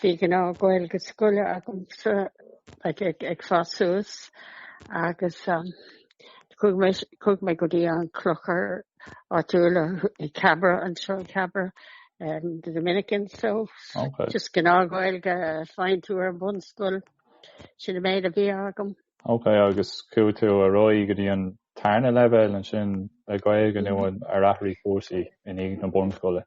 Bhí gnáth Gaeilge scoile agamsa ag fás suas agus chuaigh mé go dtí an clochar áitiúil i Cabra anseo, i Cabra, The Dominican, so just gnáth Gaeilge a fhaigheann tú ar an bhunscoil, sin an méid a bhí agam. Ok, agus chuaigh tú ar aghaidh go dtí an tarna leibhéal ansin le Gaeilge nó ar athraigh cúrsaí i ndiaidh na bunscoile?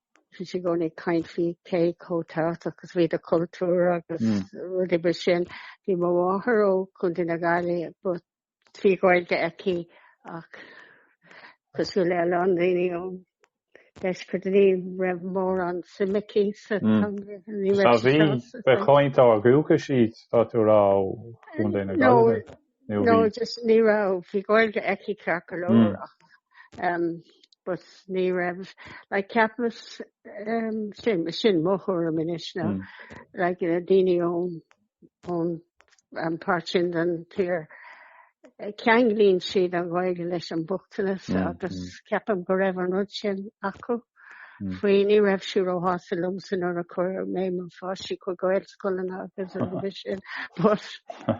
bhí sé i gcónaí ag caint faoi cé chomh tábhachtach is a bhí do chultúr agus rudaí mar sin. Bhí mo mháthair ó Chontae na Gaillimhe but bhí Gaeilge aici ach cosúil le a lán daoine ón deisceart ní raibh mórán suim aici sa teanga. Ní raibh sí sásta. Bheadh cainteoirí dúchais iad, tá tú ag rá, ó Chontae na Gaillimhe. nó bhí. No, just ní raibh, bhí Gaeilge aici ceart go leor ach ehm but ní raibh, like ceapaim ehm sin, sin mo thuairim anois ná like na daoine ón ón an páirt sin den tír ceanglaíonn siad an Ghaeilge leis an mbochtanas agus ceapaim go raibh an rud sin acu faoi ní raibh siad ró shásta liomsa nuair a chuir mé mo pháistí chuig Gaelscoileanna agus rudaí mar sin but.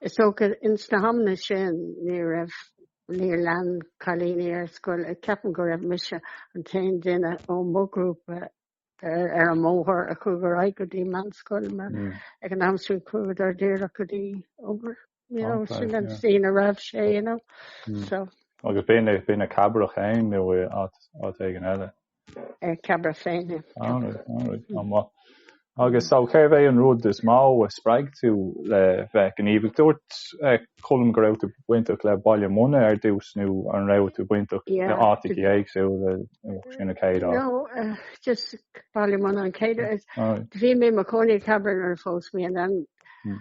Is dócha, ins na hamanna sin, ní raibh, níor lean cailíní ar scoil, a ceapaim go raibh mise an t-aon duine ó mo ghrúpa ar an mbóthar a chuaigh ar aghaidh go dtí meánscoil, mar ag an am sin chuagadar díreach go dtí obair, you know, sin an scene a raibh sé, you know, so. Agus b'in, b'in i gCabrach fhéin nó i áit éigin eile? ar Cabra féin. Agus so cérbh é an rud is mó a spreag tú le bheith gníomhach? Dúirt Colm go raibh tú bainteach le Baile Munna ar dtús nó an raibh tú bainteach le áiteachaí éagsúla sa chéad áit? No, just Baile Munna an chéad áit. Bhí mé i mo chónaí i Cabra nuair a phós mé and then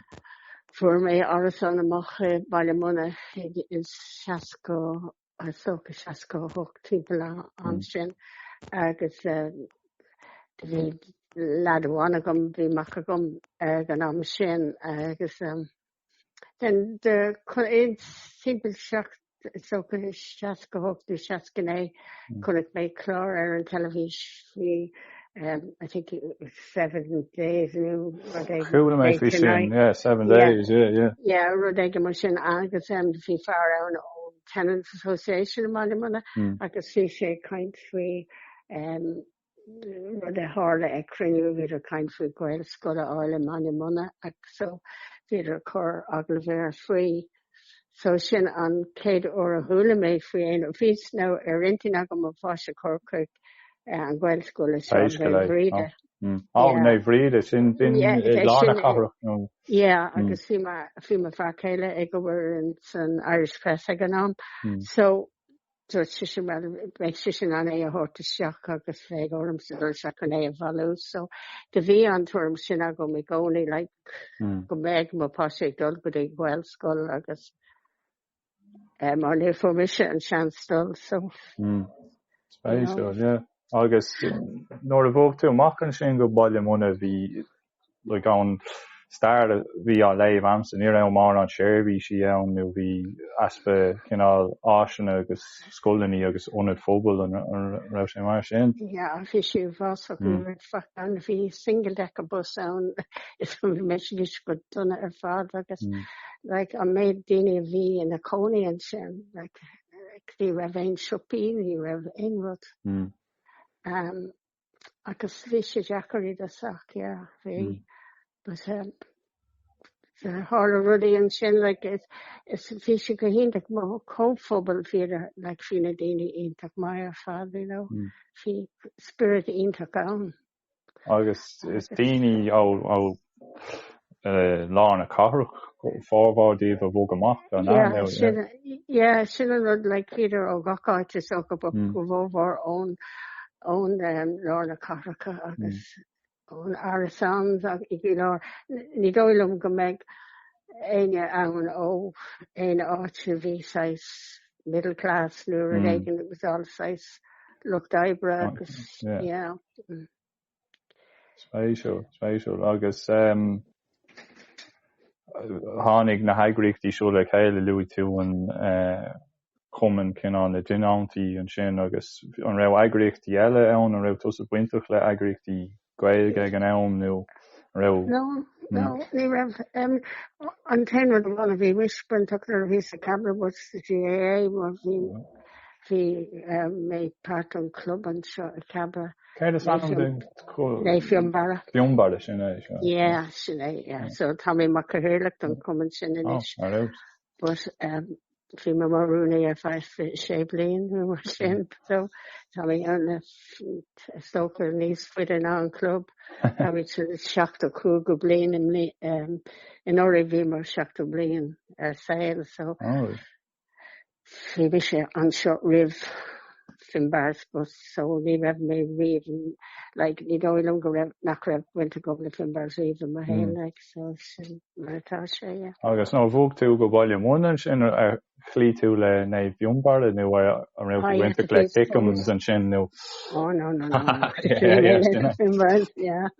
fuair mé árasán amach i Baile Munna in 60. Is dócha 68 timpeall an am sin agus bhí leaid amháin agam bhí mac agam ag an am sin agus then de chun é timpeall secht is dócha 68 nó 69 chonaic mé clár ar an teilifís She um, I think it was seven days nó rud éigin. Chuala mé faoi sin, yeah, seven yeah. days, yeah, yeah. Yeah, rud éigin mar sin agus um, bhí fear ann ó Tenants Association i mBaile Munna mm. agus bhí sé ag caint faoi um, rud a tharla ag cruinniú bhíodar ag caint faoi Gaelscoil a fháil i mBaile Munna agus so bhíodar ag cur agallamh air faoi so sin an chéad uair a chuala mé faoi agus bhí sé ar intinn agam mo pháiste a chur chuig an Ghaelscoil i Scoil Naomh Bríde. Á, Naomh Bríde, sin an ceann i lár na cathrach, nó? Yeah, agus bhí mo fear céile ag obair san Irish Press ag an am, so Dúirt sé, bhuel, bheadh sé in ann é a thabhairt isteach agus bheadh ormsa dul isteach chun é a bhailiú. So, do bhí an tuairim sin agam i gcónaí, like, go mbeadh mo pháiste ag dul go dtí Gaelscoil agus, eh, mar ní fuair mise an seans dul, so, you know. Spéisiúil, yeah. Agus nuair a bhog tú amach ansin go Baile Munna, bhí, like, ón stair a bhí á léamh a'msa, ní raibh mórán seirbhísí ann nó bhí easpa cineál áiseanna agus scoileanna agus ionaid phobail an raibh sé mar sin? Yeah, bhí sé uafásach ní raibh faic ann, bhí single decker bus ann is bhí sé sin go dona ar fad agus like an méid daoine a bhí ina cónaí ansin like ní raibh aon siopaí ní raibh aon rud. agus bhí sé deacair i dtosach yeah bhí mm. but um tharla rudaí ansin like is bhí sé go hiontach mar comhphobal bhí like bhí na daoine iontach maith ar fad you know mm. bhí spiorad iontach ann. Agus is daoine ó lár na cathrach, formhór díobh a bhog amach an ea, yeah. Yeah, sin an rud, like, bhíodar ó gach áit, is dócha, but an formhór ón, ón lár na cathrach agus ón areas in aice le lár. Ní dóigh liom go mbeadh éinne ann ó aon áit a bhí saghas middle class nó rud éigin it was all saghas lucht oibre agus, yeah. Spéisiúil, spéisiúil agus tháinig na heagraíochtaí siúd le chéile, luaigh tú an Cumann Cineáil na dTionóntaí ansin agus an raibh eagraíochtaí eile ann? An raibh tusa bainteach le heagraíochtaí Gaeilge ag an am nó an raibh? No, no, ní raibh. An t-aon rud amháin a bhí mise bainteach nuair a bhí mé sa Cabra ná sa GAA mar bhí mé páirt an club anseo i Cabra. Céard is ainm don club? Naomh Fionnbarra. Fionnbarra sin é so. Yeah, sin é, yeah. So tá mé mar cathaoirleach don cumann sin anois. Oh, right. But um, bhí mé mar rúnaí ar feadh sé bliain nó mar sin, so tá mé is dócha níos faide ná an club. Tá mise seachtó cúig bliain im um, anuraidh bhíomar seachtó bliain ar saol, so. Oh, right. Bhí sé anseo roimh Finbarr's so ní raibh mé riamh in like ní dóigh liom go raibh nach raibh baint agam le Finbar riamh i mo shaol like so sin mar atá sé yeah. Agus nuair a bhog tú go Baile Munna ansin ar chloígh tú le Naomh Fionnbarr nó an raibh tú bainteach le Kickhams ansin nó? Oh no no no no yeah yeah yeah yeah.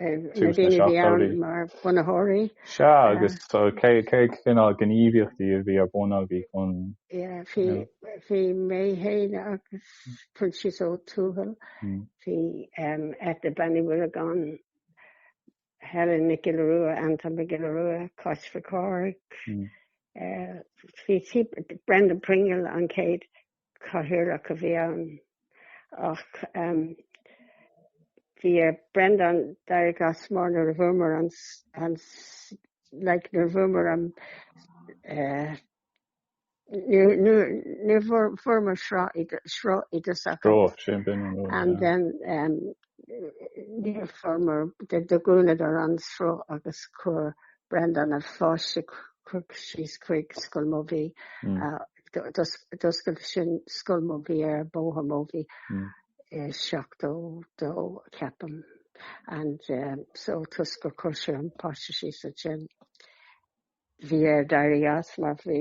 na daoine a bhí ann mar bhunaitheoirí. Sea, agus cé cineál gníomhaíochtaí a bhí ar bun agaibh chun. Bhí mé féin agus Proinsias Ó Tuathail, bhí Eithne Banny Mulligan, Helen Nic Giolla Rua, Anton Mac Giolla Rua, Cáit Mhic Cárthaigh, Brendan Pringle, an chéad Cathaoirleach a bhí ann ach bhí ar Breandán éirí as mar nuair a fuaireamar an, like, nuair a fuaireamar an, ní bhfuaireamar sruth i dtosach. Sruth, sin, b'in an rud. And then, níor fuaireamar do do dhúnadar an sruth agus chuir Brendan a pháiste síos chuig Scoil Mobhí. D'oscail siad Scoil Mobhí ar Bóthar Mobhí i 72, ceapaim, and so toisc gur chuir sé an páiste síos ansin. Bhí air éirí as mar bhí,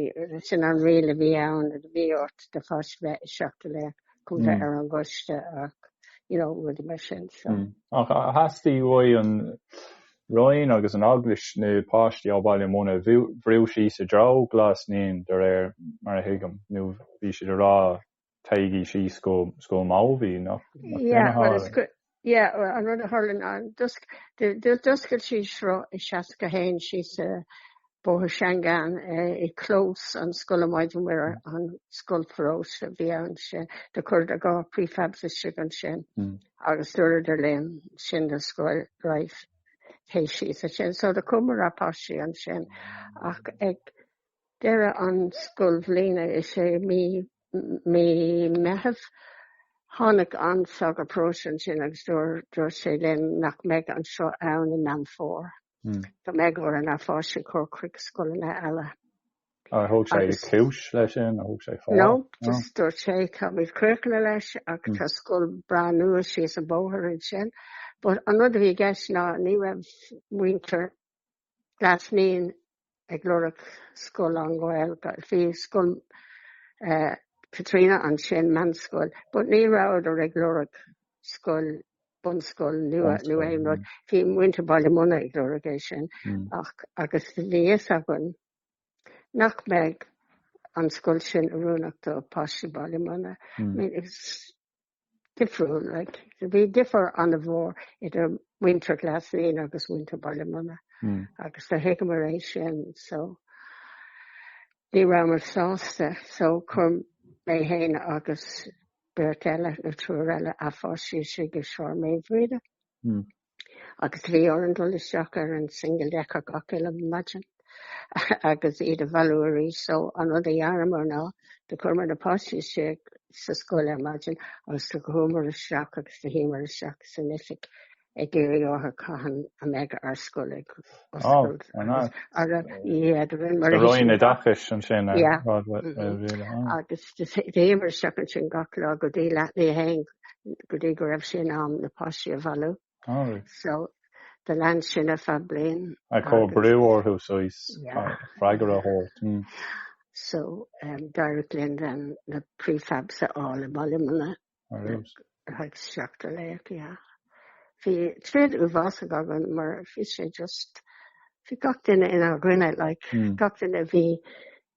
sin an riail a bhí ann, a bhí ort do pháiste bheith istigh le go mbeifeá ar an gcoiste ach, you know, rud mar sin so. Ach theastaigh ón Roinn agus an Eaglais na páistí ó Bhaile Munna a bhrú síos i dtreo Ghlas Naíon, de réir mar a thuigim, nó bhí siad ag rá, téigí síos go Scoil Mobhí, nó céard a tharla? Yeah, well, an rud a tharla ná, d'oscail siad sruth i 71 síos i bóthar Shangan i gclós an scoile Maighdine Mhuire, an scoil pharóiste a bhí ann ansin. Do chuireadar dhá prefabs istigh ansin agus dúradar linn, sin an scoil, right, téigh síos ansin. So do chuireamar ár bpáistí ansin ach ag deireadh an scoilbhliana isea mí, mí Meitheamh. Tháinig an sagart paróiste ansin agus dúirt sé linn nach mbeidh an sruth ann i Meán Fómhair. Go mbeidh orainn ár bpáistí a chur chuig scoileanna eile. Ar thug sé cúis leis sin? Ar thug sé fáth? No, just dúirt sé táimid críochnaithe leis ach tá scoil breá nua síos an bóthar ansin. But an rud a bhí i gceist ná ní raibh muintir Glas Naíon ag lorg scoil lánGhaeilge. Bhí scoil Chaitríona ansin, meanscoil, but ní rabhadar ag lorg scoil, bunscoil nua nó aon rud. Bhí muintir Bhaile Munna ag lorg é sin agus bhí a fhios againn nach mbeidh an scoil sin oiriúnach do pháistí Bhaile Munna. difriúil. Bhí difear an-mhór idir muintir Ghlas Naíon agus muintir Bhaile Munna agus do thuigeamar é sin so ní rabhamar sásta so chuir mé fhéin agus beirt eile nó triúr eile ár bpáistí isteach i Sráid Mhaoilbhríde. agus bhí orainn dul isteach ar an single decker gach uile maidin agus iad a bhailiú arís so an rud a dheineamar ná do chuireamar na páistí istigh sa scoil ar maidin agus do chuamar isteach agus do shuíomar isteach san oifig ag iarraidh orthu cathain a mbeidh ár scoil ag oscailt agus shuíomar isteach ansin gach lá go dtí leath tar éis a haon go dtí go raibh sé in am na páistí a bhailiú. All right. So do lean sin ar feadh bliain. Ag cur brú orthu suas, freagra a thabhairt. Mm. So um, d'éirigh linn then na prefabs a fháil i mBaile Munna. Ar nós. Ar thug seachtó trí, yeah. Bhí troid uafásach againn mar bhí sé just, bhí gach duine inár gcoinne, like, gach duine bhí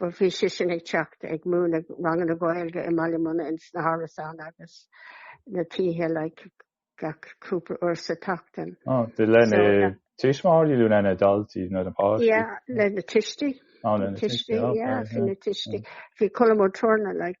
Ba bhí sé sin ag teacht ag múineadh ranganna Gaeilge i mBaile Munna in sna hárasáin agus na tithe like gach cúpla uair sa tseachtain. Ó, do leis na tuismitheoirí nó leis na daltaí nó na páistí? Yeah, leis na tuistí. Ó, leis na tuistí, ok. Yeah, bhí na tuistí. Bhí Colm Ó Torna like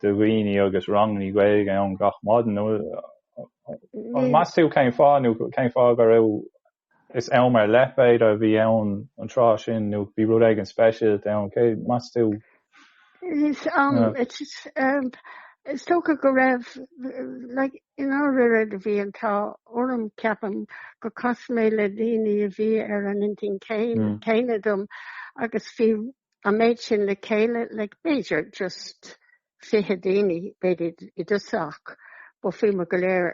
do dhaoine agus ranganna Gaeilge ann gach maidin. Meas tú cén fáth nó cén fáth go raibh, is am ar leith b'fhéidir, a bhí ann an tráth sin nó bhí rud éigin speisialta ann, an meas tú? Is dócha go raibh, like, i ndáiríre bhí an t-ádh orm, ceapaim, gur chas mé le daoine a bhí ar an intinn céanna dom agus bhí an méid sin le chéile le b'fhéidir just fiche daoine b'fhéidir i dtosach but bhí muid go léir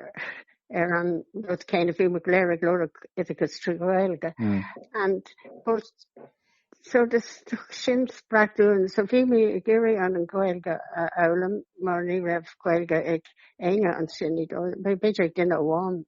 ar an rud céanna bhí muid go léir ag lorg oideachas trí Ghaeilge mm. and but so sin spreagadh dúinn so bhí mé ag iarraidh an an Ghaeilge a fhoghlaim mar ní raibh Gaeilge ag éinne ansin bhí b'fhéidir ag duine amháin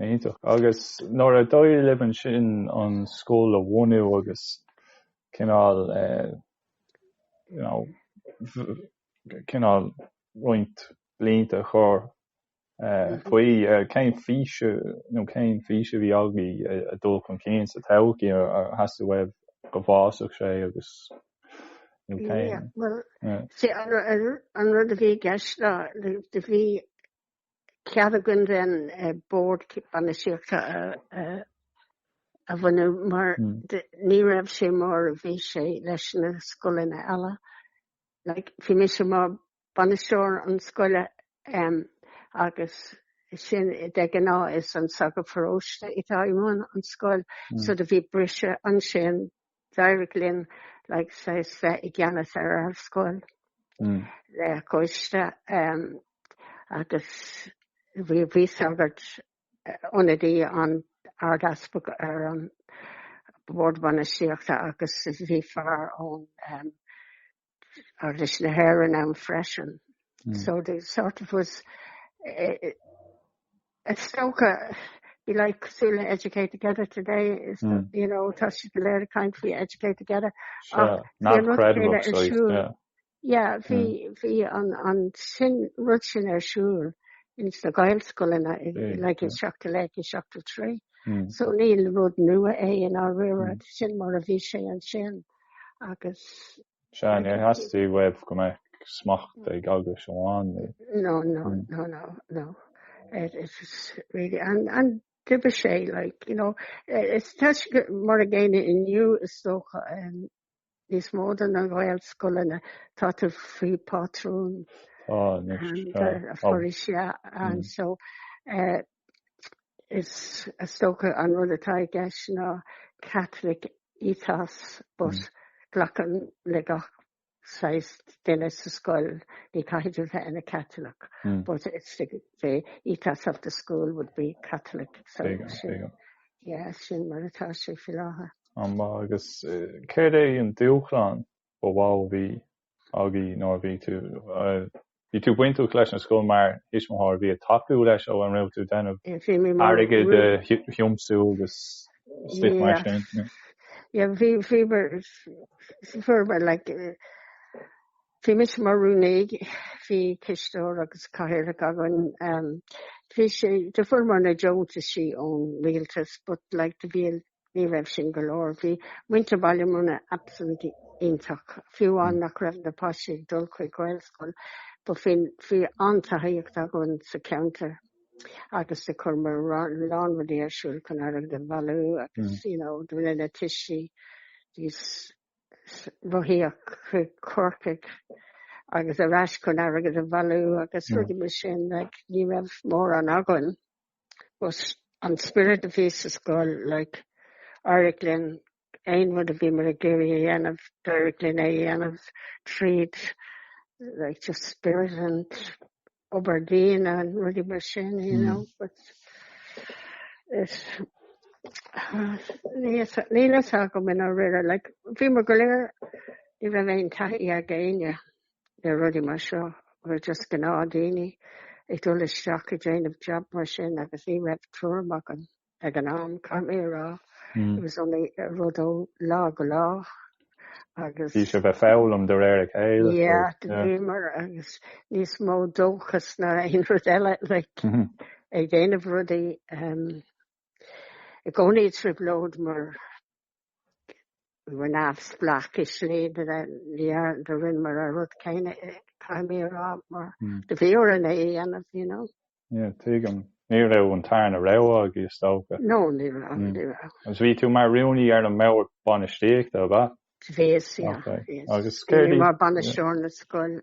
Iontach. Agus nuair a d'éirigh libh ansin an scoil a bhunú agus cineál, you know, cineál roinnt blianta a chur faoi, cén f-, nó cén fís a bhí agaibh ag dul chun cinn sa todhchaí? Ar theastaigh uaibh go bhfásfadh sé agus, nó cén? Bhuel, an rud a bhí i gceist ná, do bhí cead againn den eh, bord bainistíochta a, a, a bhunú mar mm. de, ní raibh sé mar a bhí sé leis na scoileanna eile. Like, bhí mise mar bainisteoir na scoile um, agus sin de ghnáth is an sagart paróiste atá i mbun an scoil mm. so do bhí briseadh ansin D'éirigh linn like bheith i gceannas ar an scoil le coiste agus bhí sagart, ionadaí an Ard-Easpaig ar an mBord Bainistíochta agus bhí fear ón Eaglais na hÉireann ann freisin. Mm. So the sort of ethos, eh, eh, is dócha, bhí sé cosúil le educate together today is mm. that, you know tá siad go léir ag caint faoi educate together sure. oh, not incredible so, sure. yeah yeah bhí mm. bhí an an rud sin ar siúl ins na Gaelscoileanna yeah, like yeah. i seachtó dó, i seachtó trí mm. so ní rud nua é i ndáiríre mm. sin mar a bhí sé ansin agus Sea, níor theastaigh uaibh go mbeadh smacht ag Eaglais amháin le. No, no, hmm. no, no, no. It, it is really, and, and d'oibrigh sé, like, you know, tá sé mar an gcéanna inniu is dócha um, níos mó de na Gaelscoileanna tá siad faoi pátrúnacht an uh, Foras mm. and mm. so uh, is dócha an rud atá i gceist ná Catholic ethos but mm. glacann le gach saghas duine sa scoil ní caitheann tú bheith ina Catholic mm. but it's the, the ethos of the school would be Catholic so sin yeah, sin mar atá sé faoi láthair. Agus eh, céard é an dúshlán Ba mhó a bhí agaibh nuair a bhí tú. Bhí tú bainteach leis an scoil mar thuismitheoir. Bhí ag tacú leis nó an raibh tú ag déanamh airgid a thiomsú agus stuff mar sin. Yeah, bhí, bhí mar, fuair mé like, bhí mise mar rúnaí, bhí cisteoir agus cathaoirleach againn. Bhí sé, do fuaireamar na deontaisí ón rialtas but like do bhí a Ní raibh sin go leor. Bhí muintir Bhaile Munna absolutely iontach, fiú amháin nach raibh na páistí ag dul chuig Gaelscoil. But bhí, bhí an-tacaíocht againn sa ceantar agus ag cur a lán rudaí ar siúl chun airgead a bhailiú agus, you know, do rinne na tuistí rás rothaíochta chuig Corcaigh agus ar ais chun airgead a bhailiú agus rudaí mar sin, like, ní raibh mórán againn. But an spiorad a bhí sa scoil, like, d'éirigh linn aon rud a bhíomar ag iarraidh a dhéanamh, d'éirigh linn é a dhéanamh tríd, like, just spirit and obair daoine and rudaí mar sin, you know, but it, ah, níl a fhios agam conas a rinneamar, like, bhíomar go léir, ní raibh aon taithí ag éinne le rudaí mar seo, just gnáthdhaoine ag dul isteach ag déanamh jab mar sin agus ní raibh tuairim agam ag an am cad é a rá, it was only rud ó lá go lá agus. Bhí sibh ag foghlaim de réir a chéile. Yeah, bhíomar agus níos mó dóchas ná aon rud eile, like, ag déanamh rudaí i gcónaí i dtrioblóid mar Níl a fhios agam cén tslí do rinneamar an rud céanna atá mé ag rá mar do bhí orainn é a dhéanamh, you know. Yeah, tuigim. Ní raibh an tarna rogha agaibh, is dócha. No, ní raibh, ní raibh. Agus bhí tú mar rúnaí ar an mBord Bainistíochta, ab ea? Bhíos, yeah, bhíos. Agus céard í? Bhí mé mar Bainisteoir na Scoile.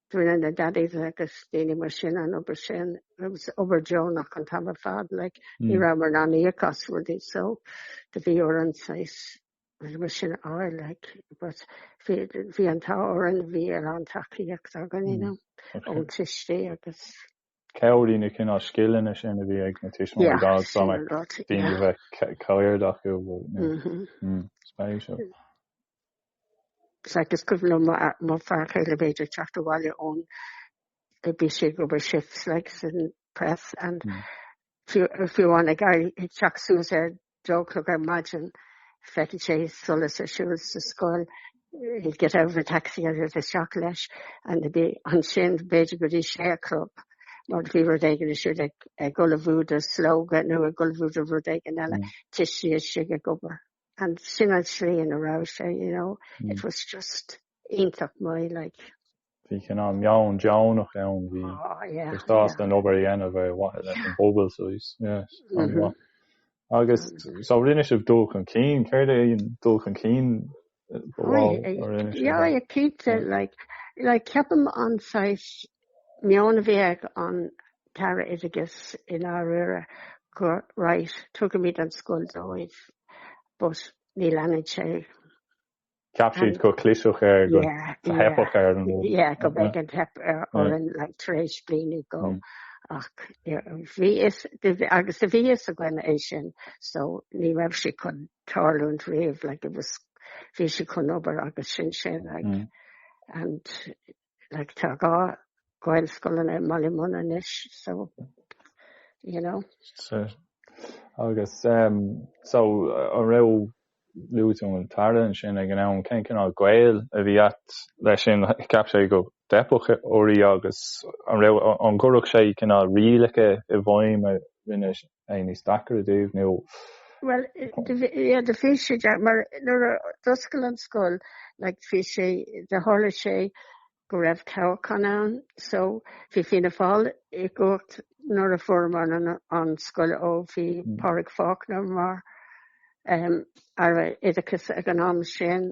Do rinne na Daddies agus daoine mar sin an obair sin. It was obair deonach an t-am ar fad like. Ní rabhamar in ann íoc as rudaí so do bhí orainn lads mar sin a fháil like. But bhí, bhí an t-ádh orainn, bhí a lán tacaíocht againn, you know, ón tuistí agus. chabhraigh na cineál scileanna sin a bhí ag na tuismitheoirí dá mbeadh daoine a bheith cairde acu spéise. Agus go bhfuil m'fhear céile b'fhéidir ag teacht abhaile ón a bhí sé ag obair sa Irish Press and fiú amháin ag teach suas ar Dó a chlog ar maidin, d'fheicfeadh sé solas ar siúl sa scoil, he'd get out of a taxi isteach leis and there'd be, ansin b'fhéidir go dtí sé a chlog mar bhí rud éigin ar siúl ag ullmhú do Slógadh nó ag ullmhú do rud éigin eile, tuistí istigh ag obair. And sin an tslí ina raibh sé, you know, it was just iontach maith, like. bhí cineál meon deonach ann, bhí sibh sásta an obair a dhéanamh ar mhaithe leis an bpobal suas. Agus so rinne sibh dul chun cinn, céard é an dul chun cinn ba mhó a rinne sibh? Yeah, yeah, cinnte, like, like ceapaim an saghas meon a bhí ag an tAire Oideachais i ndáiríre go right, tugaimid an scoil dóibh but ní leanann sé. Ceap siad go gclisfeadh air, go theipfeadh air an rud. Yeah, go mbeadh an teip air orainn tar éis bliain nó dhó. Ach bhí fhios, agus bhí a fhios againn é sin, so ní raibh sé chun tarlúint riamh, like it was, bhí sé chun obair agus sin sin, like, and like, tá dhá Gaelscoileanna i mBallymun anois, so, you know. Sure. Agus, um, so, an raibh luaitear an tAire ansin ag an am, cén cineál gaol a bhí agat leis sin? Cheap sé go dteipfeadh oraibh agus an raibh, an gcuireadh sé cineál rialacha i bhfeidhm a rinne é níos deacra daoibh nó. Bhuel, yeah, do bhí sé deacair, mar nuair a d'oscail an scoil, like, bhí sé, do tharla sé go raibh toghchán ann, so bhí Fianna Fáil i gcumhacht nuair a fuaireamar an scoil, ó bhí Pádraig Faulkner mar, um, Aire Oideachais ag an am sin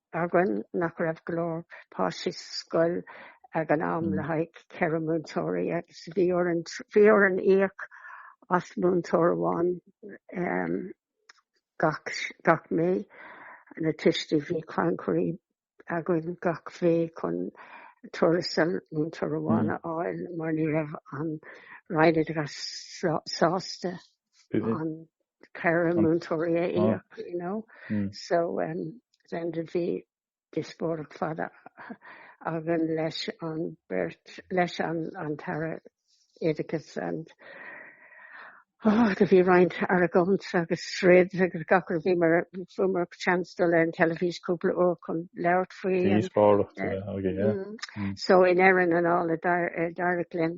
againn nach raibh go leor páistí sa scoil ag an am le haghaidh ceithre múinteoirí agus bhí orainn, bhí orainn íoc as múinteoir amháin gach, gach mí. Na tuistí, bhí crannchuir againn gach mí chun tuarastal múinteoir amháin a fháil mar ní raibh an Roinn Oideachais sásta. an ceithre múinteoirí a íoc, you know. So, then do bhí díospóireacht fada againn leis an bheirt, leis an tAire Oideachais and, oh, do bhí roinnt argóint agus troid agus gach rud. Bhíomar, fuaireamar seans dul ar an teilifís cúpla uair chun labhairt faoi an. Díospóireacht a bheith againn, yeah. So, i ndeireadh na dála, d'éirigh linn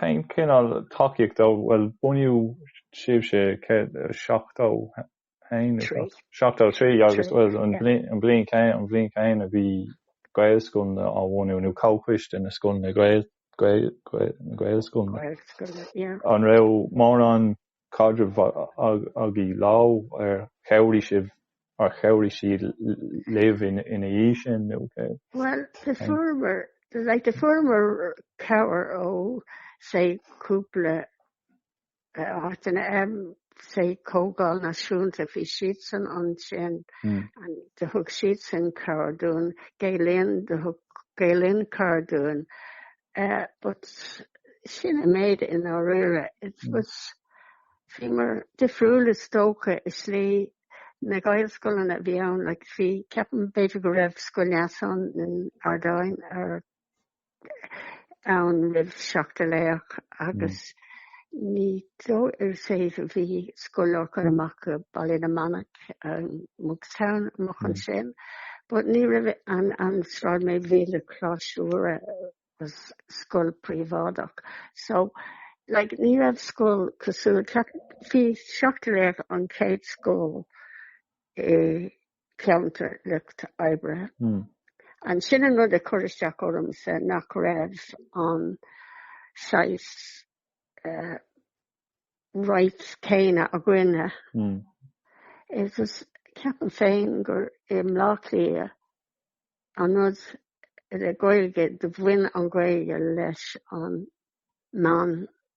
Cén cineál tacaíocht do, bhuel, bunaíodh sibhse céad is seachtó haon nó Trí. seachtó a trí agus, Trí, bhuel, an yeah. an bhliain chéanna, an bhliain chéanna bhí Gaelscoileanna á bhunú nó comhchoiste na scoileanna Gael, Gael, Gael, na Gaelscoileanna. Gaelscoileanna, yeah. An raibh mórán caidreamh agaibh leo, ar chabhraigh sibh, ar chabhraigh sí libh ina dhiaidh sin, nó cé? Bhuel, do fuaireamar, like, do fuaireamar cabhair ó, say, cúpla áiteanna, say, Comhdháil Náisiúnta, bhí siadsan ansin, and do thug siadsan cabhair dúinn, Gael Linn, do thug Gael Linn cabhair dúinn, Eh but sin an méid i ndáiríre. Agus bhí muid difriúil is dócha i slí, na Gaelscoileanna a bhí ann like bhí ceapaim b'fhéidir go raibh Scoil Neasáin in Ard Aidhin ar ann roimh Seachtar Laoch agus Ar ndóigh ar feadh i bhfad bhí Scoil Lorcáin amach i Baile na Manach, Monkstown, amach ansin. But ní raibh ann, b'fhéidir, Mhuire Marlborough is scoil príobháideach. So, like, ní raibh scoil cosúil, bhí Seachtar Laoch an chéad scoil i. ceantar lucht oibre. Ansin an rud a chuir isteach ormsa nach raibh an saghas right céanna againne. Agus ceapaim féin gur i mBleá Cliath an rud le Gaeilge do bhain an Ghaeilge leis an meán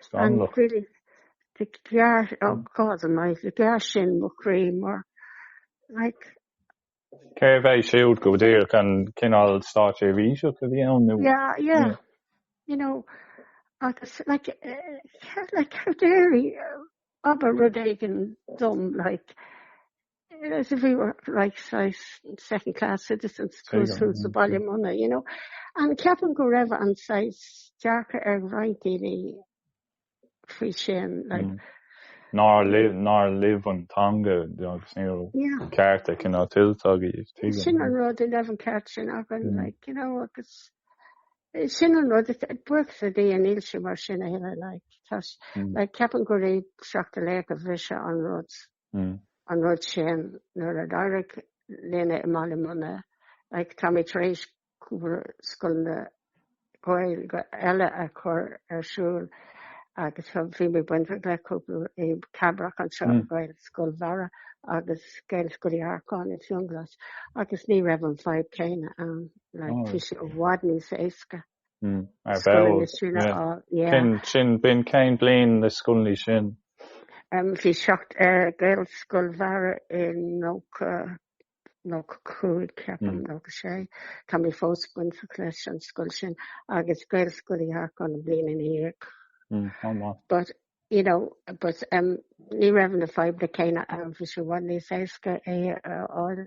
Scannalach. Do ghearr, God almighty, do ghearr sin mo chroí mar, like. Cérbh é siúd go díreach, an cineál státseirbhíseach a bhí ann nó? Yeah, yeah. You know, agus, like, like, how dare he, ag abairt rud éigin dom, like, as if we were right saghas second class citizens toisc gur as Baile Munna, you know. Ceapaim go raibh an saghas dearcadh ag roinnt daoine faoi sin, like. Mm. Nár libh, nár libh an teanga agus níl yeah. ceart cineál tuillte agaibh. Tuigim. Sin an rud, ní raibh an ceart sin againn, mm. like, you know, agus eh, sin an rud buíochas le Dia níl sé mar sin a thuilleadh, like, tas, mm. like, ceapaim gurbh é Seachtar Laoch a bhris an rud. an rud sin nuair a d'éirigh linne i mBaile Munna. Like, tá mé tar éis cúpla scoileanna Gaeilge eile a chur ar siúl agus bhí mé bainteach le cúpla i Cabrach anseo, Gaelscoil Bharra agus Gaelscoil Uí Earcáin i Fionnghlas, agus ní raibh an fadhb céanna ann, like, tá sé i bhfad níos éasca. Ar ball. Sin b'in cén bliain na scoileanna sin? Bhí seacht Gaelscoil Bharra i 90, 95 ceapaim, 96. Tá mé fós bainteach leis an scoil sin agus Gaelscoil Uí Earcáin an bhliain ina dhiaidh. Chomh maith. But, you know, but ní raibh na fadhbanna céanna ann, bhí sé i bhfad níos éasca é a fháil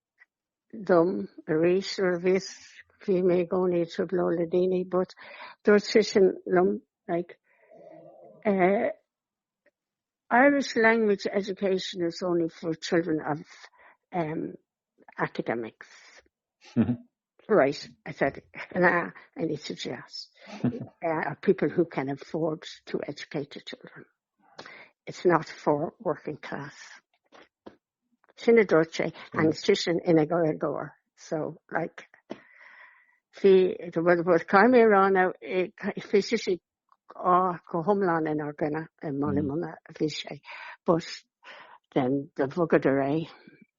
dom arís nuair a bhíos, bhí mé i gcónaí ag trioblóid le daoine but dúirt seisean liom like uh, Irish language education is only for children of um, academics. right, I said, nah, I need to just uh, people who can afford to educate their children. It's not for working class. Sin a dúirt sé agus si sin ina gcomhair. So like fi bhfuil bhfuil caint ar an á bhí sé sé á go hiomlán in ár gcoinne i mBaile Munna a bhí sé but then do bhogadar é.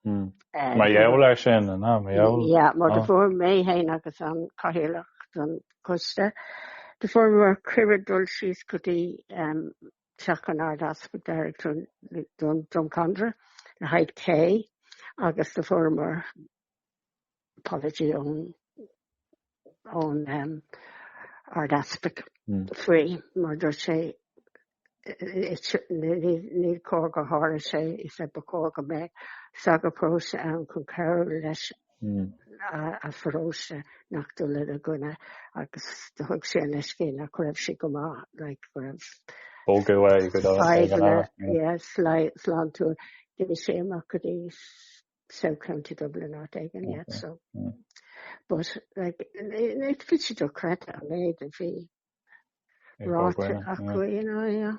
Mar gheall air sin, an ea? Mar gheall? Yeah, mar do fuair mé fhéin agus an Cathaoirleach don choiste, do fuair muid cuireadh dul síos go dtí teach an Ard-Easpaig i nDroim Conrach le haghaidh tae agus do fuaireamar apology ón Ard-Easpag faoi mar dúirt sé ní cóir go dtarlódh sé, he said, ba chóir go mbeadh sagart paróiste ann chun cabhrú leis a pharóiste seachas dul ina gcoinne agus do thug sé an leithscéal nach raibh sé go maith like go raibh Bogadh é go deo ag an fhadhbanna aire. yes like sláintiúil bhí sé amach go dtí South County Dublin áit éigin yeah so but like it fits you do chreid an méid a bhí ráite acu you know yeah.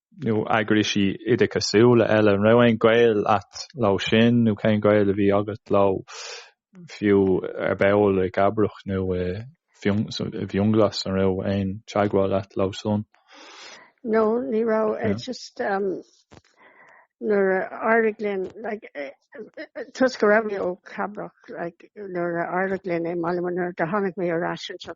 nó eagraisí oideachasúla eile, an raibh aon gaol agat leo sin nó cén gaol a bhí agat leo, fiú ar ball i gCabrach nó i bhFionnghlas, an raibh aon teagmháil agat leo san? No, ní raibh, it's just um, nuair a d'éirigh linn, like, toisc go raibh mé ó Cabrach, like, nuair a d'éirigh linn i mBaile Munna do tháinig mé ar ais anseo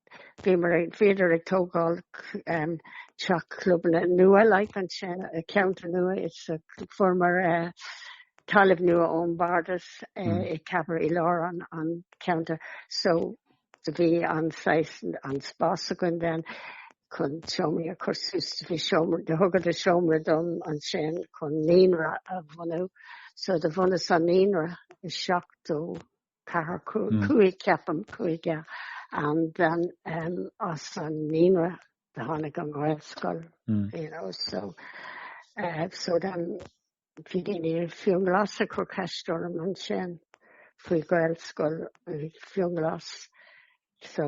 Bhíomar ag, bhíodar ag tógáil teach club nua, like, ansin, i ceantar nua is fuaireamar talamh nua ón Bhardas i gCabrach i lár an cheantair so bhí an saghas, an spás againn then chun seomraí a chur suas, bhí seomraí, do thugadar seomra dom ansin chun naíonra a bhunú so do bhunaíos an naíonra i seachtó. Ceathrar cúig ceapaim agus then as an naíonra do tháinig an ghaelscoil you know so so then bhí daoine ó Fhionnghlas ag cur ceist orm ansin faoi ghaelscoil i bhFionnghlas so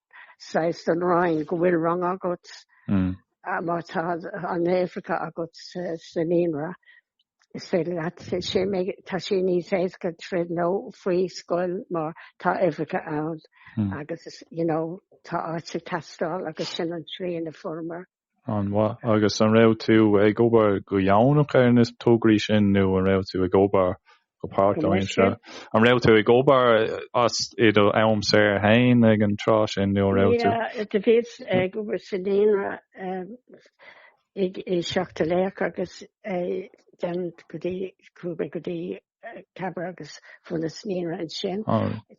saghas den Roinn go bhfuil rang agat má tá na huimhreacha agat sa naíonra, is féidir leat, tá sé níos éasca triail le haghaidh scoil má tá uimhreacha ann agus, you know, tá áit ag teastáil agus sin an tslí ina bhfuaireamar. An-mhaith. Agus an raibh tú ag obair go dheonach ar na tograí sin nó an raibh tú ag obair go páirtaimseartha? An raibh tú ag obair as i d'am saor féin ag an tráth sin nó an raibh tú? Bhíos ag obair sa naíonra i seachtó a seacht agus then go dtí cúba go dtí Cathair agus sna naíonraí ansin.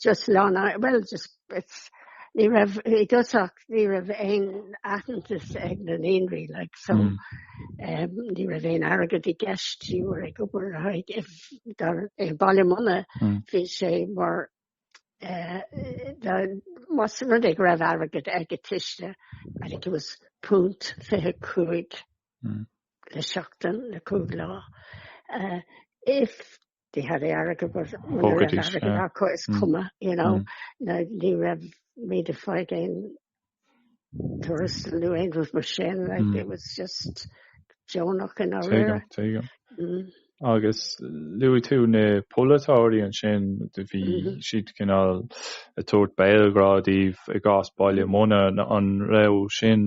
Just lán, bhuel, just, it's, ní raibh, i dtosach, ní raibh aon aitheantas ag na naíonraí, like, so, ní raibh aon airgead i gceist, ní bhfuair, ag obair le haghaidh, if, dar, i Baile Munna, bhí sé mar, the, más rud é go raibh airgead ag an tuiste, I think it was punt fiche cúig le seachtain, le cúig lá, if they had the airgead, but muna raibh airgead acu is cuma, you know, ná ní raibh muid ag fáil aon tuarastail nó aon rud mar sin, like, it was just deonach i ndáiríre. Tuigim, tuigim. Agus luaigh tú na polaiteoirí ansin, bhí siad cineál ag tabhairt béalghrá daoibh i gcás Baile Munna, an raibh sin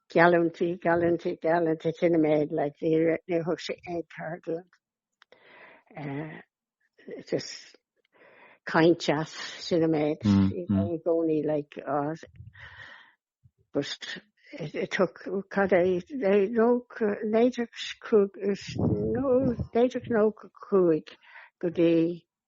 Geallúintí, geallúintí, geallúintí, sin an méid i ndáiríre, ní thug sé aon cead iad eh just caint is, sin an méid, i gcónaí like eh just it took, cad é, nó naoú déag, naoú déag nócha a cúig go dtí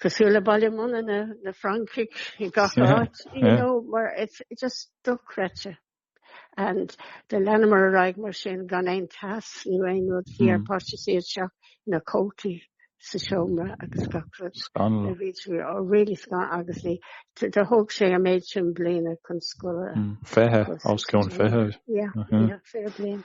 cosúil le Baile Munna na, na Francaigh i gach áit, you yeah. know, mar it's just dochreidte. And do leanamar ar aghaidh mar sin gan aon teas nó aon rud bhí ar páistí caitheamh na cótaí sa seomra agus gach rud. Scanal. Ó bhí sé, oh really scanal, agus ní, do thóg sé an méid sin bliana chun scoil. Fiche, os cionn fiche. Yeah, yeah, fiche bliain.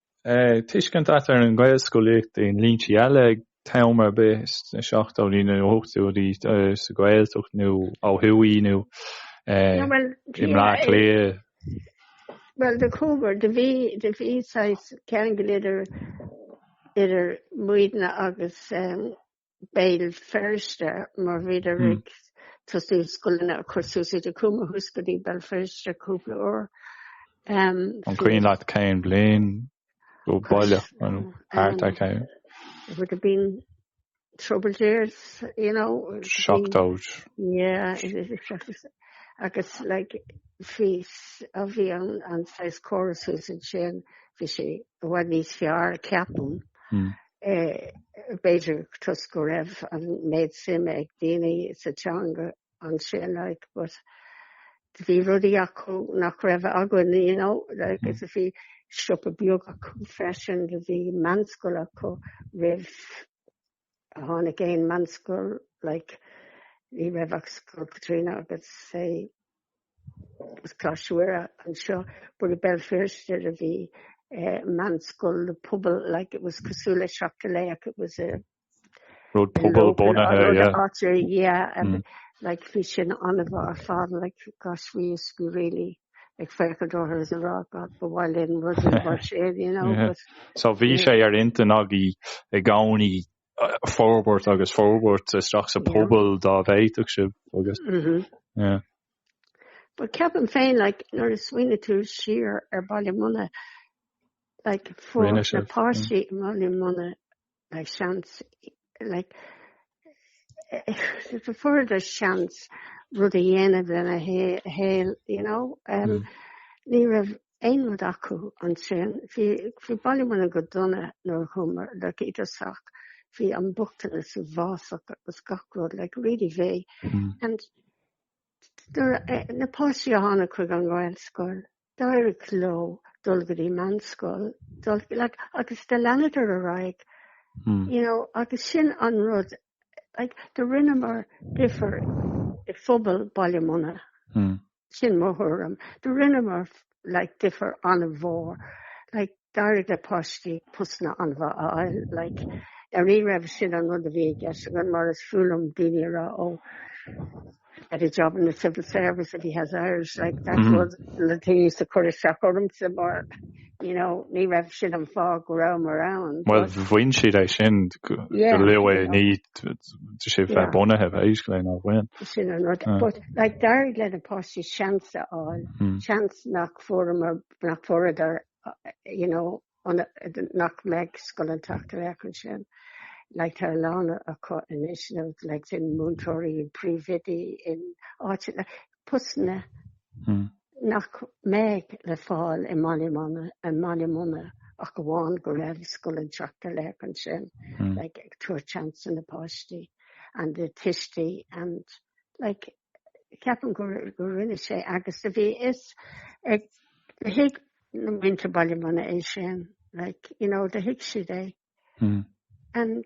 tuiscint agat ar an nGaelscolaíocht i ndlínsí eile ag am ar bith sna seachtóidí nó na hochtóidí sa Gaeltacht nó ó thuaidh nó i mBleá Cliath. Well de cúgur do bhí do bhí ceangal idir idir muidne agus um, Béal Feirste mar bhíodar ag tosú scoileanna a chur suas agus chuamar suas go dtí Béal Feirste cúpla uair. An cuimhin leat cén bliain go baileach nó thart ar cén? It would have been troubled years, you know. Seachtóidí. Yeah, agus like bhí a bhí an saghas córas thuas ansin bhí sé i bhfad níos fearr ceapaim b'fhéidir toisc go raibh an méid suime ag daoine sa teanga ansin like but bhí rudaí acu nach raibh againn you know like is bhí siopa beag acu freisin do bhí meánscoil acu roimh a tháinig aon meánscoil like ní raibh ach Scoil Caitríona agus eh Coláiste Mhuire anseo, but i Béal Feirste a bhí eh, meánscoil le pobal, like it was cosúil le Seachtar Laoch, it was a rud pobalbhunaithe, or yeah. artery, yeah, and Mm. like bhí sin an-mhaith ar fad, like gosh, we used to be really, like ag féachaint orthu is a rá, God, ba mhaith linn rudaí mar sin, you know, Yeah. but So bhí sé ar intinn agaibh i gcónaí forbairt agus forbairt isteach sa pobal dá bhféadfadh sibh agus. Mm-hmm. But ceapaim féin like nuair a smaoiníonn tú siar ar Baile Munna like fiú na páistí mm. i mBaile Munna like seans like fuaireadar seans rud a dhéanamh lena saol you know um, mm. ní raibh aon rud acu ansin. Bhí Baile Munna go dona nuair a chuamar like isteach. Bhí an bochtanas uafásach agus gach rud like really bad. And na páistí a tháinig chuig an Ghaelscoil, d'éirigh leo dul go dtí meánscoil, dul like agus do leanadar ar aghaidh. You know, agus sin an rud, like do rinneamar difear i phobal Bhaile Munna. Sin mo thuairim. Do rinneamar like difear an-mhór. Like d'éirigh le páistí postanna an-mhaith a fháil. Like ah ní raibh sin an rud a bhí i gceist againn mar is fuath liom daoine a rá ó he'd get a job in the civil service if he has Irish like that mm -hmm. was the thing that used to cur isteach orm you know, ní raibh sin an fáth go rabhamar ann. Well, bhain siad é sin go luath i ndiaidh é a bheith bunaithe bheith is go léon bhain. Sin an rud. But like d'éirigh le na páistí seans a fháil, hmm. seans nach fuaramar, nach fuaradar, you know, nach mbeidh Scoil an tSeachtar Laoch ansin. Like tá lán acu anois, like ina múinteoirí, ina príomhoidí, in áit, postanna nach mbeidh le fáil i mBaile Munna ach amháin go raibh scoil ag teacht ar leith ansin, like, ag tabhairt seans do na páistí and the tuistí and, like, ceapaim go rinne sé agus a bhí fhios ag, do thuig na muintir Bhaile Munna é sin, like, you know, do thuig siad é and,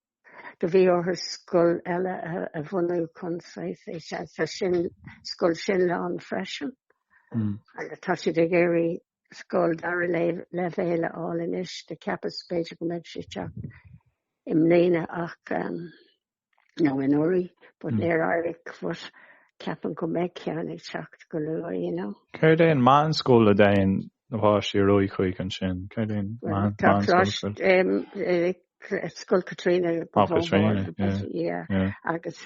Do bhí orthu scoil eile a bhunú chun saoth fé sean. Tá sin, scoil sin lán freisin. Mm. Agus tá siad ag iarraidh scoil dara leibhéal a fháil anois do cheapas b'fhéidir go mbeadh sé ag teacht i mbliana ach um, nó anuraidh but mm. níor éirigh but ceapaim go mbeidh ceann ag teacht go luath you know. Céard é an meánscoil a dtéann na páistí ar aghaidh chuig ansin. Cad é an ceann? Scoil Caitríona. Ó Caitríona, yeah. Agus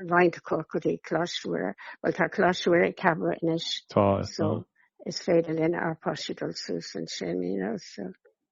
roinnt acu go dtí Coláiste Mhuire. Bhuel tá Coláiste Mhuire i gCabrach anois. Tá, is dóigh. So is féidir lenár bpáistí dul suas ansin, you know, so.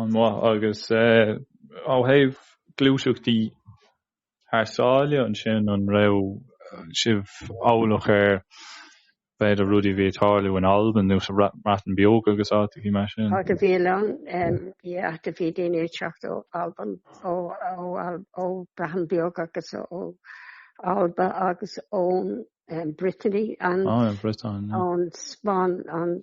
an-mhaith agus eh, ó thaobh gluaiseachtaí thar sáile ansin an raibh sibh eolach ar b'fhéidir rudaí a bhí ag tarlú in Albain nó sa mBreatain Bheag agus áiteachaí mar sin? Tá do bhí ann, em, yeah, ach do bhí daoine ag teacht ó Albain, ó, ó, Al- ó Breatain Bheag agus ó, ó Alba agus ón em, Brittany, an, Á, an Bhriotáin, yeah. ón Spáinn, an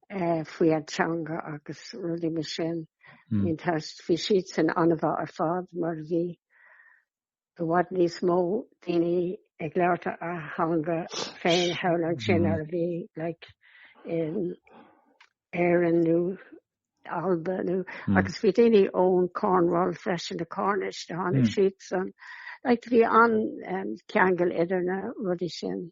eh, faoi an teanga agus rudaí mar sin. Mm. Bhí an teist, bhí siadsan an-mhaith ar fad mar bhí i bhfad níos mó daoine ag labhairt a a theanga féin thall ansin mm. ar bhí like, in Éireann nó Alba nó mm. agus bhí daoine ón Cornwall freisin na Cornish do tháinig mm. siad san. Like, bhí an um, ceangal idir na rudaí sin.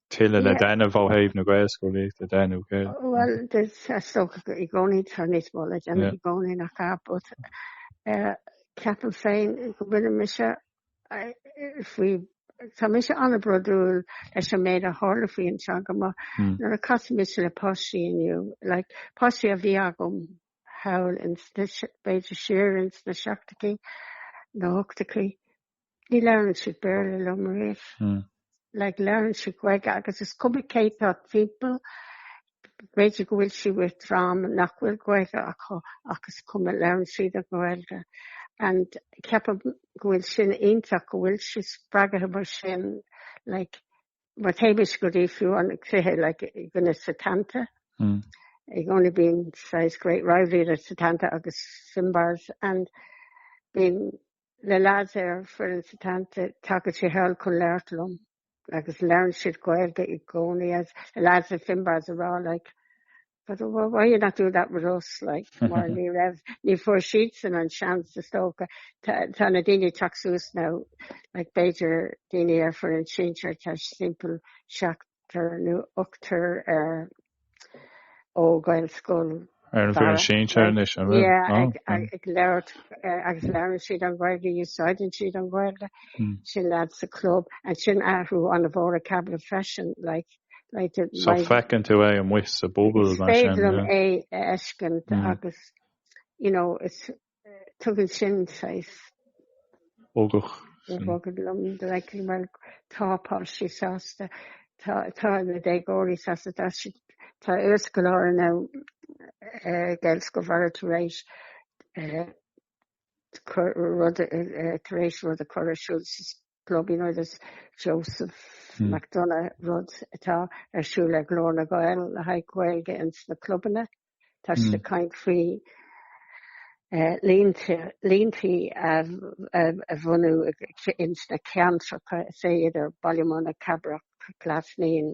tuilleadh le déanamh ó thaobh na Gaelscolaíochta de nó cé? Bhuel, is dócha go i gcónaí tá níos mó le déanamh i gcónaí nach ea? But Ceapaim féin go bhfuil mise faoi, tá mise an-bhrodúil leis an méid a tharla faoi an teanga mar nuair a casadh mise le páistí inniu, like, páistí a bhí agam thall ins na, b'fhéidir siar ins na seachtachaí, na hochtachaí. Ní labhraíonn siad Béarla liom riamh. Hmm. Like labhraíonn siad Gaeilge agus is cuma cé tá timpeall b'fhéidir go bhfuil siad le dream nach bhfuil Gaeilge acu agus is cuma labhraíonn siad as Gaeilge and ceapaim go bhfuil sin iontach go bhfuil siad spreagtha mar sin like mar théimis go dtí fiú an cluiche like go na Setanta. Hmm. I gcónaí bíonn saghas great rivalry le Setanta agus Finbarr's and bíonn Le lads ar foireann Setanta tagann sé thall chun labhairt liom agus labhrann siad Gaeilge i gcónaí le lads as Finbar's ag rá like but why are you not doing that with us like mar ní raibh ní fuair siadsan an seans is dócha. Tá tá na daoine ag teacht suas now like b'fhéidir daoine ar foireann sinsear tá timpeall seacht nó ochtar ó Gaelscoil Ar an bhfoireann sinsear anois, an bhfuil? Yeah, ag, ag, ag labhairt, eh, agus labhrann siad an Ghaeilge, úsáideann siad an Ghaeilge, sin leat sa chlub, ansin athrú an-mhór i gCabra freisin, like, like the, So my, feiceann tú é amuigh sa bpobal, is mar féidir sin, liom yeah. é a fheiscint, Mm. agus, you know, is, Tugann sin saghas. Bogach. Sin. Bogach liom like well tá páistí sásta tá tá na déagóirí sásta tá si tá iarscoláirí ón Gaelscoil Bharra tar éis eh, cur- rud eh, eh, tar éis rud a chur ar siúl sa club Fondúireacht Joseph McDonagh, rud atá ar siúl le Glór na nGael le haghaidh Gaeilge ins na clubanna. Tá siad ag caint faoi líontaí a bhunú ins na ceantracha, is é idir Baile Munna, Cabrach, Glas Naíon,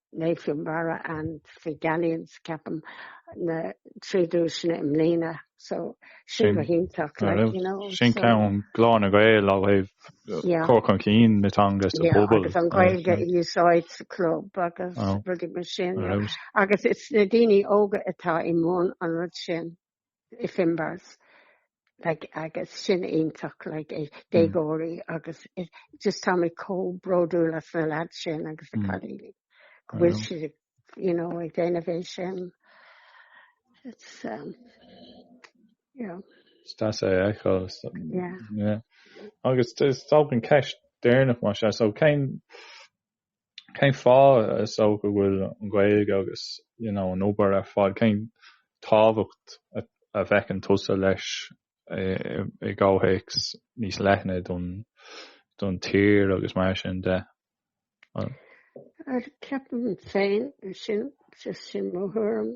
Naomh Barra and fuaireamar, ceapaim, na trí duaiseanna i mbliana, so sin go hiontach, like, you know, so. Sin ceann Glór na nGael ó thaobh cur chun cinn na teanga sa phobal. Yeah, agus an Ghaeilge a úsáid sa chlub agus rudaí mar sin. Agus is na daoine óga atá i mbun an rud sin. i bhFinbar's like agus sin iontach like é déagóirí agus just tá mé comh bródúil as na leaids sin agus na cailíní go bhfuil siad you know ag déanamh é sin it's um you know Is deas é a fheiceáil is yeah yeah agus is dóigh an ceist deireanach mar seo so cén cén fáth is dócha go bhfuil an Ghaeilge agus an obair ar fad, cén tábhacht a bhfeiceann tusa leis i gcomhthéacs níos leithne don tír agus mar sin de? Ceapaim féin sin, is sin mo thuairim.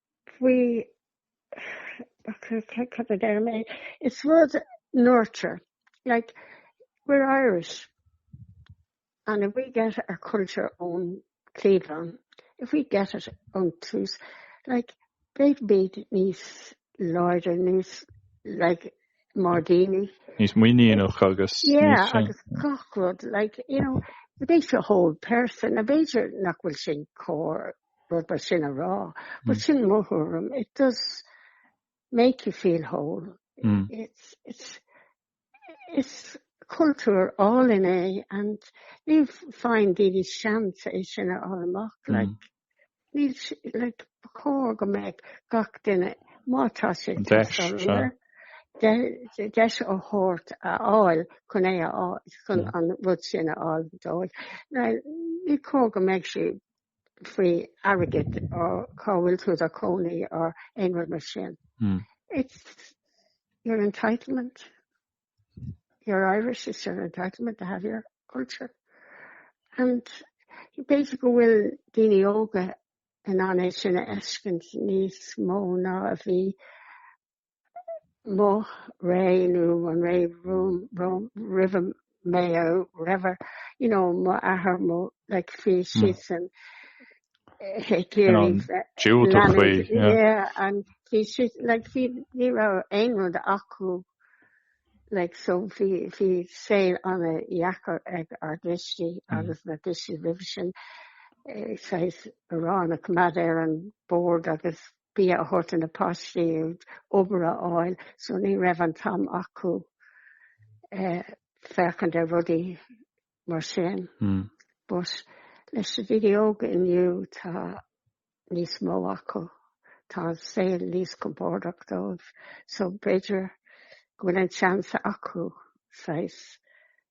faoi cad a deir mé? It's rud nurture, like we're Irish and if we get our culture ón cliabhán, if we get it ón tús, like beidh muid níos láidre, níos like mar dhaoine. Níos muiníneach agus níos. Yeah, agus gach rud, like, you know, it makes you a whole person, b'fhéidir nach bhfuil sin cóir rud é sin a rá, but sin mo thuairim, it does make you feel whole. It's, it's, is cultúr álainn é and ní faigheann daoine seans é sin a fháil amach, like, ní, like, ba chóir go mbeadh gach duine, má tá sé ag teastáil air, deis a thabhairt a fháil chun é a fháil, chun an rud sin a fháil dóibh. Now, ní cóir go mbeidh sé faoi airgead or cá bhfuil tú i do cónaí or aon rud mar sin. Mm. It's your entitlement. You're Irish, it's your entitlement to have your culture. And b'fhéidir go bhfuil daoine óga in ann é sin a fheiscint níos mó ná a bhí Mo ré nó an ré roimh, roimh, roimh mo ré, b'fhéidir, you know, mo athair, mo, like, bhí hmm. siad san Hick Erie. Yeah, and bhí siad, like, bhí, ní raibh aon rud acu, like, so bhí, bhí saol an-dheacair ag ár dtuistí hmm. agus na tuistí roimh sin, eh, saghas arán a choimeád ar an bord agus bia a thabhairt do na páistí, obair a fháil, so ní raibh an t-am acu féachaint ar rudaí mar sin. Hmm. But leis na daoine óga inniu tá níos mó acu, tá an saol níos compordach dóibh, so b'fhéidir go bhfuil an seans acu saghas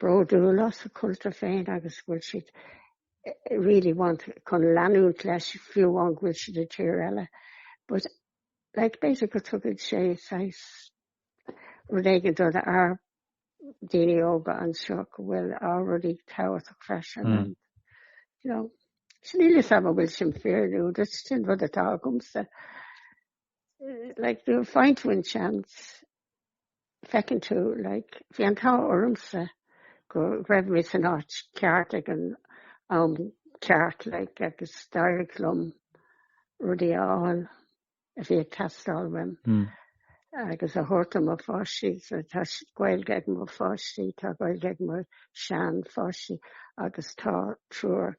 bródúil as a cultúr féin agus go bhfuil siad really ag baint chun leanúint leis fiú amháin go bhfuil siad i dtír eile but like b'fhéidir go tugann sé saghas rud éigin do na ár daoine óga anseo go bhfuil ár rudaí tábhachtach freisin mm. and you know so níl a fhios a'm an bhfuil sin fíor nó sin rud atá agamsa like do find one chance Feiceann tú, like, bhí an t-ádh ormsa go raibh mé san áit ceart ag an am ceart, like, agus d'éirigh liom rudaí a fháil a bhí ag teastáil uaim agus a thabhairt do mo pháistí. So tá Gaeilge ag mo pháistí, tá Gaeilge ag mo shean-pháistí agus tá triúr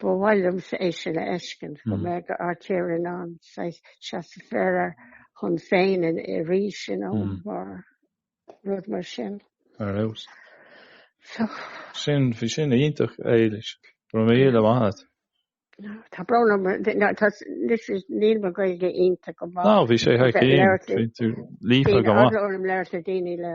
Ba mhaith liom é sin a fheiscint, go mbeidh ár tír in ann seasamh ar a son féin arís, you know, mar rud mar sin. Ar fheabhas. Sin, bhí sin iontach, Éilis. Go raibh míle maith a't. Tá brón orm, níl mo Gaeilge iontach go maith. Ná, bhí sé thar cionn. Bhí tú líofa go maith. Bhí orm labhairt le daoine le.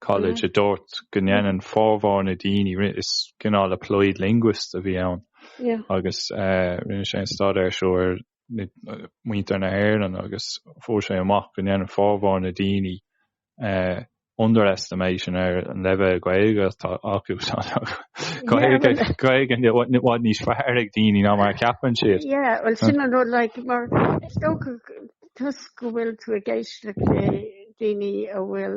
College a dúirt go ndéanann formhór na daoine, is cineál applied linguist a bhí ann, agus eh, rinne sé an staidéar seo ar na eh, muintir na hÉireann agus fuair sé amach go ndéanann formhór na daoine eh, underestimation ar an leibhéal Gaeilge atá acu. Gaeilge well- Gaeilge i bhfad- bhfad níos fearr ag daoine ná mar a cheapann siad. Yeah, well sin an rud like mar is dócha go- toisc go bhfuil tú ag éisteacht le daoine a bhfuil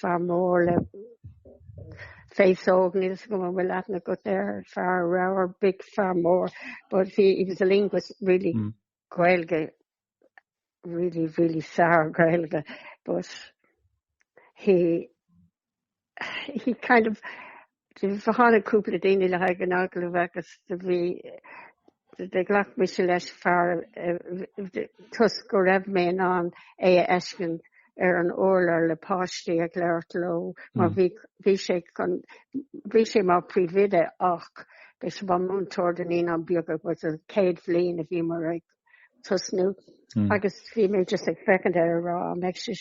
fear mór le face óg níl a fhios agam an bhfuil aithne agat ar fear ramhar big fear mór but he, he was the linguist really mm. Gaeilge really really sár-Ghaeilge but he he kind of Tháinig cúpla daoine le haghaidh an agallaimh agus bhí, ghlac mise leis, fear toisc go raibh mé in ann é a fheiscint ar an urlár le páistí ag labhairt leo mar bhí, bhí sé chun, bhí sé mar príomhoide ach beidh sé mar múinteoir do naíonáin bheaga don chéad bhliain a bhíomar ag tosnú agus bhí mé just ag féachaint air ag rá an mbeidh sé,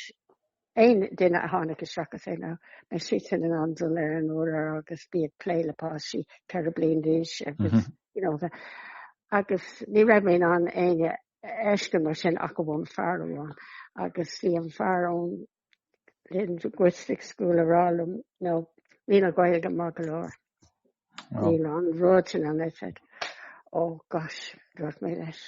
Aon duine a tháinig isteach is é ná beidh sé sin in ann dul ar an urlár agus bheith ag plé le páistí ceithre bliain d'aois agus you know bheith agus ní raibh mé in ann éinne a fheiscint mar sin ach amháin fear amháin agus bhí an fear ón linguistic school ag rá liom ó níl a Ghaeilge maith go leor. Níl an rud sin an oifig. Oh gosh, dúirt mé leis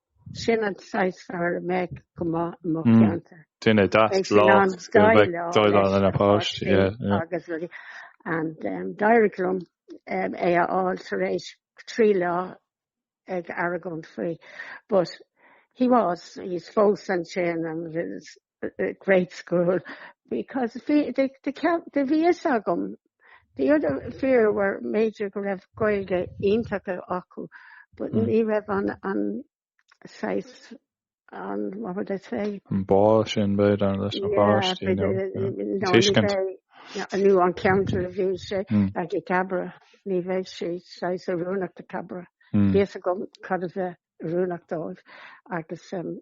Sin an saghas fear a mbeadh go maith i mo cheantar. Duine deas, láidir, go mbeadh ag déileáil le na páistí. Agus rudaí. And d'éirigh liom é a fháil tar éis trí lá ag argóint faoi. But he was, he's fós ansin and a great school because the, the, the, bhí a fhios agam the other fir b'fhéidir go raibh Gaeilge iontach acu but mm. ní raibh an, an saghas an what would I say an bá sin b'fhéidir leis na páistí tuiscint nó an ceantar a bhí sé ag i gCabrach ní bheidh sé saghas oiriúnach do Cabrach. Bhí a fhios agam cad a bheith rúnach dóibh agus um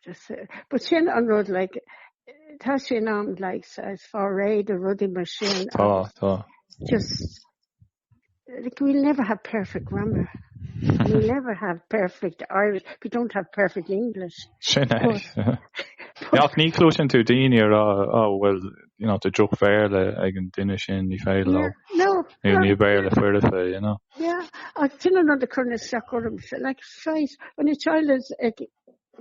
just uh, but sin an rud like tá sin an like as fá réid a rudaí mar sin tá tá just like we'll never have perfect grammar we never have perfect Irish we don't have perfect English sin ní clúsin tú daine ar á bhfuil you know, tá droch-Bhéarla ag an duine sin, ní féidir leo, no, no, níl Béarla foirfe, you know. Yeah, ach sin an rud a chuireann isteach orm, like, shite, when your child is ag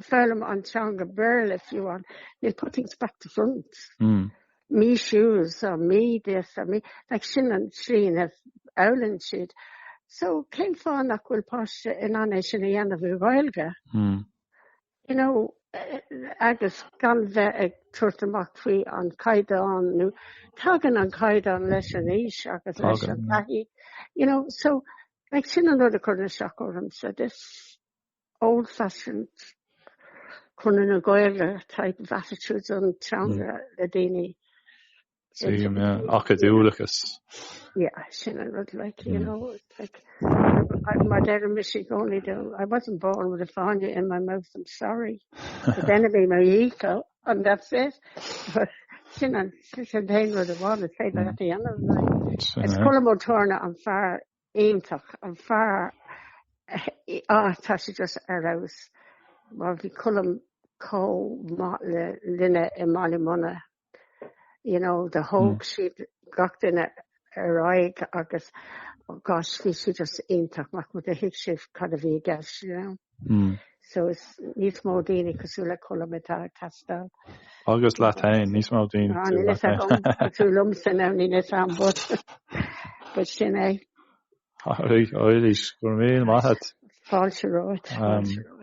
foghlaim an teanga Béarla fiú an, they put things back to front. Mm. Me shoes, or me this, or me, like, sin an slí a fhoghlaimíonn siad. So, cén fáth nach bhfuil páiste in ann é sin a dhéanamh i nGaeilge? Mm. You know, agus gan bheith ag tabhairt amach faoin gcaighdeán, nó tagann an caighdeán leis an aois agus leis an taithí. You know, so, like, sin an rud a chuireann isteach ormsa, this old fashioned Conradh na Gaeilge type of attitude don teanga le daoine. Same, yeah. Acadúlachas. Yeah, sin an rud, like, you hmm. know, like, my dad and me say, I wasn't born with a fáinne in my mouth, I'm sorry. But then it'd be my ego, and that's it. But sin an sin féin rud amháin is féidir le dhéanamh Is Colm Ó Tórna an fear iontach an fear atá sé just ar fheabhas má bhí colm có le linne i máí muna you know do thóg siad gach duine ar aghaidh agus oh gosh bhí siad just iontach mac mo do thuig siad cad a bhí i gceist you know. Mm. So is níos mó daoine cosúil le Colm atá ag teastáil. Agus le tain níos mó daoine ah, tú le tain. Tú lom san am ní is am bud. Bud sin é. Áirí, áirí, go raibh maith. Fáilte romhat, fáilte romhat.